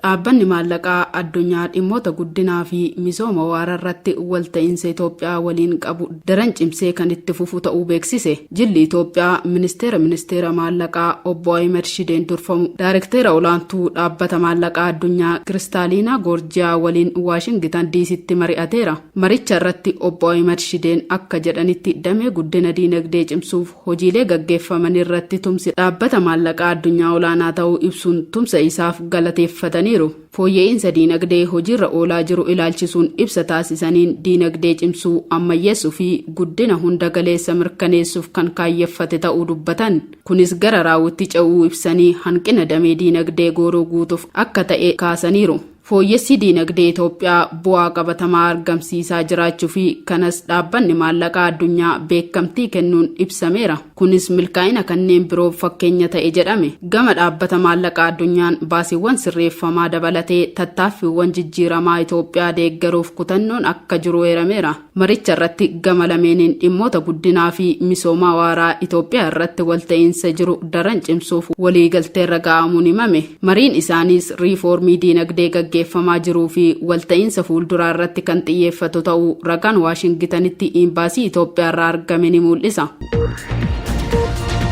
Dhaabbanni Maallaqaa Addunyaa dhimmoota guddinaa fi misooma waara irratti walta'iinsa Itoophiyaa waliin qabu daran cimsee kan itti fufu ta'uu beeksise. Jilli Itoophiyaa Ministeera Ministeera Maallaqaa Obbo Ahimad Shideen durfamu Daarekteera Olaantuu Dhaabbata Maallaqaa Addunyaa Kiristaaliinaa Goorjiyaa waliin Waashingitan Diisitti mari'ateera. Maricha irratti Obbo Ahimad Shideen akka jedhanitti damee guddina diinagdee cimsuuf Hojiilee gaggeeffamanirratti tumsi Dhaabbata Maallaqaa Addunyaa olaanaa ta'uu ibsuun tumsa isaaf galateeffataniiru. Fooyya'iinsa diinagdee hojiirra oolaa jiru ilaalchisuun ibsa taasisaniin diinagdee cimsuu, ammayyeessuu fi guddina hunda galeessa mirkaneessuuf kan kaayyeffate ta'uu dubbatan. Kunis gara raawwitti ce'uu ibsanii hanqina damee diinagdee gooroo guutuuf akka ta'e kaasaniiru. Fooyyessi diinagdee Itoophiyaa bu'aa qabatamaa argamsiisaa jiraachuu fi kanas Dhaabbanni Maallaqaa Addunyaa beekamtii kennuun ibsameera. Kunis milkaa'ina kanneen biroof fakkeenya ta'e jedhame. Gama Dhaabbata Maallaqaa Addunyaan baasiiwwan sirreeffamaa dabalatee tattaaffiiwwan jijjiiramaa Itoophiyaa deeggaruuf kutannoon akka jiru eerameera. Maricha irratti gama lameeniin dhimmoota guddinaa fi misoomaa waaraa Itoophiyaa irratti walta'iinsa jiru daran cimsuuf waliigalteerra ga'amuun himame. Mariin isaaniis riifoormii diinagdee gaggeeffamaa jiruu fi walta'iinsa fuulduraa irratti kan xiyyeeffatu ta'uu ragaan Waashingitanitti Iimbaasii Itoophiyaarraa argame ni muul'isa.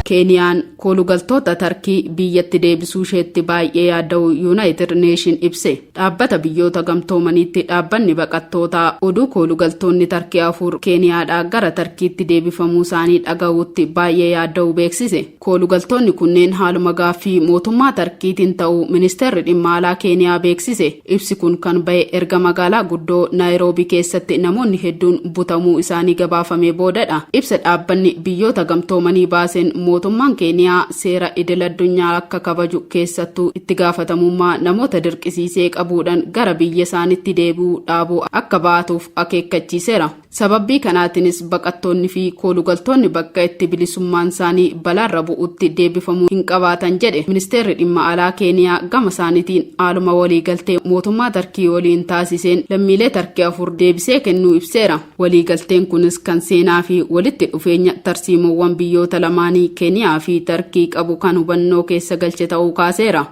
Keeniyaan koolugaltoota Tarkii biyyatti deebisuu isheetti baay'ee yaadda'uu Yuunaayitid Neeshin ibse. Dhaabbata Biyyoota Gamtoomaniitti dhaabbanni baqattootaa oduu koolugaltoonni Tarkii afur Keeniyaadhaa gara Tarkiitti deebifamuusaanii dhaga'uutti baay'ee yaadda'uu beeksise. Koolugaltoonni kunneen haaluma gaaffii mootummaa Tarkiitiin ta'uu Ministeerri Dhimma Alaa Keeniyaa beeksise. Ibsi kun kan ba'e erga magaalaa guddoo Naayiroobii keessatti namoonni hedduun butamuu isaanii gabaafamee boodadha. Ibsa dhaabbanni Biyyoota Gamtoomanii baaseen mootummaan Keeniyaa seera idil-addunyaa akka kabaju keessattuu itti gaafatamummaa namoota dirqisiisee qabuudhan gara biyya isaanitti deebi'uu dhaabuu akka ba'atuuf akeekkachiisera. Sababbii kanaatinis baqattoonni fi koolugaltoonni bakka itti bilisummaan isaanii balaarra bu'utti deebifamuu hin qabaatan jedhe Ministeerri Dhimma Alaa Keeniyaa gama isaanitiin haaluma waliigaltee mootummaa Tarkii waliin taasiseen lammiilee Tarkii afur deebisee kennuu ibseera. Waliigalteen kunis kan seenaa fi walitti dhufeenya tarsiimoowwan biyyoota lamaanii Keeniyaa fi Tarkii qabu kan hubannoo keessa galche ta'uu kaaseera.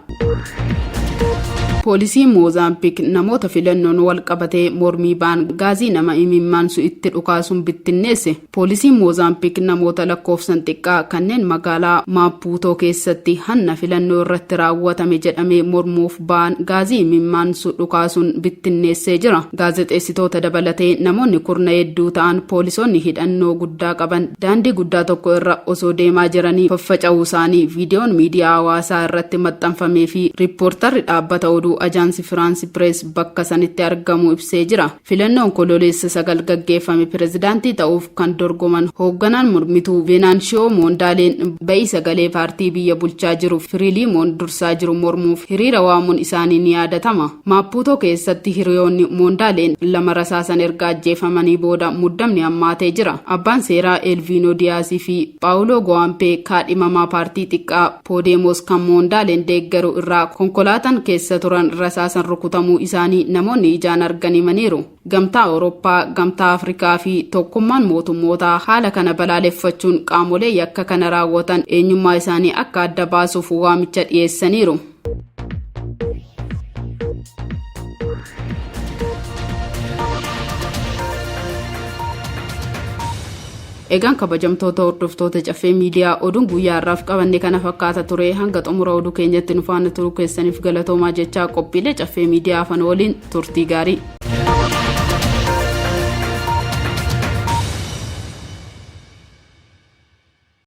Poolisiin Moozaambiik namoota filannoon wal qabatee mormii ba'an gaazii nama imimmaansu itti dhukaasuun bittinneesse. Poolisiin Moozaambiik namoota lakkoofsan xiqqaa kanneen magaalaa Maapuutoo keessatti hanna filannoo irratti raawwatame jedhamee mormuuf ba'an gaazii imimmaansu dhukaasuun bittinneessee jira. Gaazexeessitoota dabalatee namoonni kurna hedduu ta'an poolisoonni hidhannoo guddaa qaban daandii guddaa tokko irra osoo deemaa jiranii faffaca'uu isaanii viidiyoon miidiyaa hawaasaa irratti maxxanfamee fi riippoortarri dhaabbata oduu Ajaansi Firaansi Pirees bakka sanitti argamu ibsee jira. Filannoo Onkololeessa 9 gaggeeffame pirezidaantii ta'uuf kan dorgoman hoogganaan mormituu Veenaanshiyoo Moondaaleen ba'ii sagalee paartii biyya bulchaa jiru Firiiliimoon dursaa jiru mormuuf hiriira waamuun isaanii ni yaadatama. Maappuutoo keessatti hiriyoonni Moondaaleen lama rasaasan erga ajjeefamanii booda muddamni hammaatee jira. Abbaan seeraa Eelviinoo Diyaasii fi Paawuloo Gowaampee kaadhimamaa paartii xiqqaa Poodemoos kan Moondaaleen deeggaru irraa konkolaataan keessa turan rasaasan rukutamuu isaanii namoonni ijaan argan himaniiru. Gamtaa Awurooppaa, Gamtaa Afrikaa fi Tokkummaan Mootummootaa haala kana balaaleffachuun qaamolee yakka kana raawwatan eenyummaa isaanii akka adda baasuuf waamicha dhiyeessaniiru. Egaan kabajamtoota hordoftoota caffee miidiyaa oduun guyyaa har'aaf qabanne kana fakkaata ture hanga xumura oduu keenyatti nu faana turuu keessaniif galatoomaa jechaa qophiilee caffee miidiyaa afan waliin turtii gaarii.